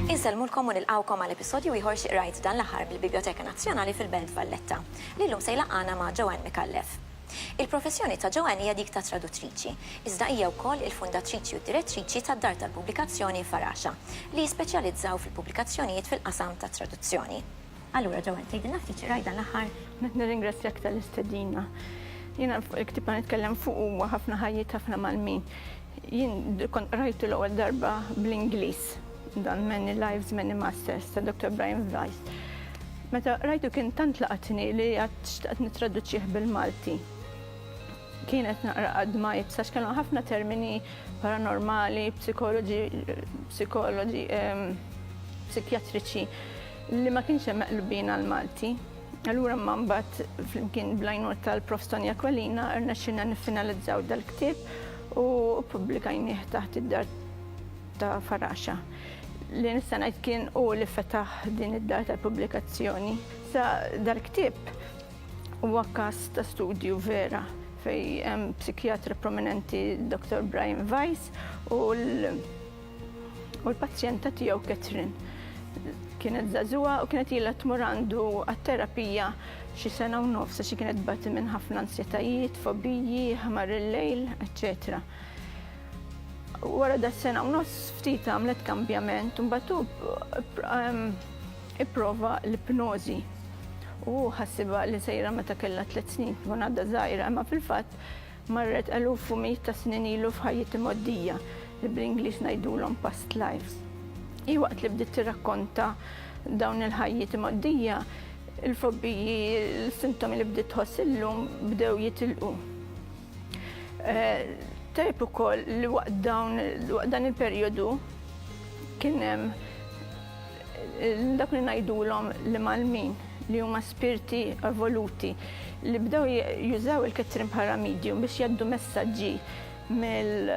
Insellmulkom u nilqawkom għal episodju ieħor xi qrajt dan l-aħħar mill-Biblioteka Nazzjonali fil-Belt Valletta, li llum se jlaqqana ma' Joanne Mikallef. Il-professjoni ta' Joanne hija dik ta' traduttriċi, iżda hija wkoll il-fundatriċi u d-direttriċi tad-dar tal-pubblikazzjoni Faraxa, li jispeċjalizzaw fil-pubblikazzjonijiet fil-qasam tat-traduzzjoni. Allura, Joanne, tgħidilna ftit xi rajt dan l-aħħar? Nirringrazzjak tal-istedina. Jiena fuq il-ktieb li nitkellem fuq huwa Ħafna Ħajjiet, Ħafna Malmin. Jien kont qrajtu l-ewwel darba bl-Ingliż, dan Many Lives, Many Masters ta' Doktor Brian Weiss. Meta qrajtu kien tant laqatni li għad xtaqt nittraduċih bil-Malti. Kienet naqra għad-dmajt għax kellhom ħafna termini paranormali, psikoloġi, psikoloġi, ehm, psikjatriċi li ma kienx hemm meqlubin għall-Malti. Allura ma mbagħad flimkien blajnur tal-Prof Tonja Kwalina rnexxinna niffinalizzaw dal-ktieb u ppubblikajnieh taħt id-dar ta' Faraxa. Li nista' ngħid kien hu li fetaħ din id-dar tal-pubblikazzjoni. Sa dal-ktieb huwa każ ta' studju vera fejn hemm psikjatra prominenti Dr. Brian Weiss u l-pazjenta tiegħu Catherine. Kienet żagħżugħa u kienet ilha tmur għandu għat-terapija xi sena u nofs għax kienet tbati minn ħafna ansjetajiet, fobiji, ħmar il-lejl, eċċetera. Wara da sena u nofs ftit għamlet kambjament u mbagħad hu ipprova l-ipnożi. U hu ħassibha li sejra meta kellha tliet snin tkun għadha żgħira, imma fil-fatt marret eluf u mijiet ta' snin ilu f'ħajjiet imgħoddija li bl-Ingliż ngħidulhom past lives. Hi waqt li bdiet tirrakkonta dawn il-ħajjiet imgħoddija, il-fobbiji, l-sintomi li bdiet tħoss illum bdew jitilqu. Tajb ukoll li waqt dawn waqt dan il-perjodu kien hemm dak li ngħidulhom li malmin li huma spirti evoluti li bdew jużaw il-kettrin bħala medium biex jaddu messaġġi mill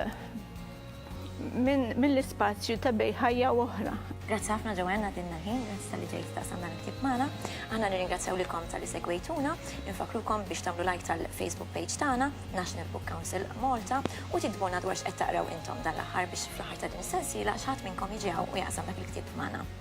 minn mill-ispazju ta' bej ħajja u oħra. Grazzi ħafna Joanne għadinna ħin, grazzi tal-li ġejt ta' sanna l-ktib magħna. Aħna nirringrazzjaw lilkom tal-li segwejtuna, infakrukom biex tagħmlu like tal-Facebook page tagħna, National Book Council Malta, u tiktbuna dwar x'qed taqraw intom dan l-aħħar biex fl-aħħar ta' din is-sensiela xi ħadd minnkom jiġi hawn u jaqsam dak il-ktieb magħna.